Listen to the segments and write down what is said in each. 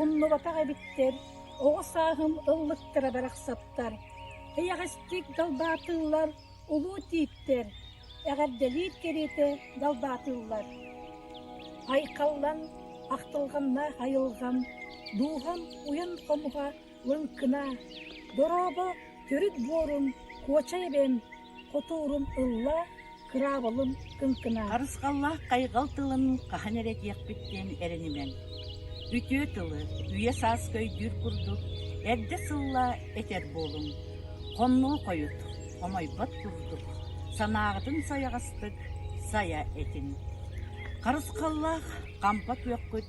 Умнубатах эбиттэр, оҕо сааһым ыллыктара барахсаттар, эйэҕэстик далбаатыыллар улуу тииттэр, эҕэрдэлиир кэриэтэ далбаатыыллар. Айхаллан, ахтылҕанна айылҕам, дууһам уйан хомуһа лыҥкына, дорообо төрүт буорун куочай эбэм хотуурум ылла кыраабылым кыҥкына Харысхаллаах хайҕал тылын хаһан эрэ этиэхпит диэн эрэнимэҥ. Үтүө тылы, үйэ-сааска өйдүүр курдук эрдэ сылла этэр буолуҥ. Хонноо хойут, хомойбот курдук, санааҕытын сайаҕастык сайа этин. Харысхаллаах хампа күөххүт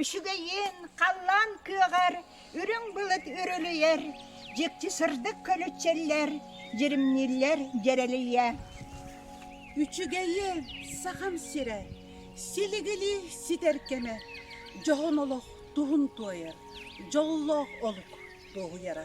Үчүгэйин халлаан күөҕэр, үрүҥ былыт үрүлүйэр, дьикти сырдык көлүччэллэр, дьиримнииллэр дьэрэлийэ. Үчүгэйи Сахам сирэ, силигили ситэр кэмэ, дьоһун олох туһун туойар, дьоллоох олук туоһуйара.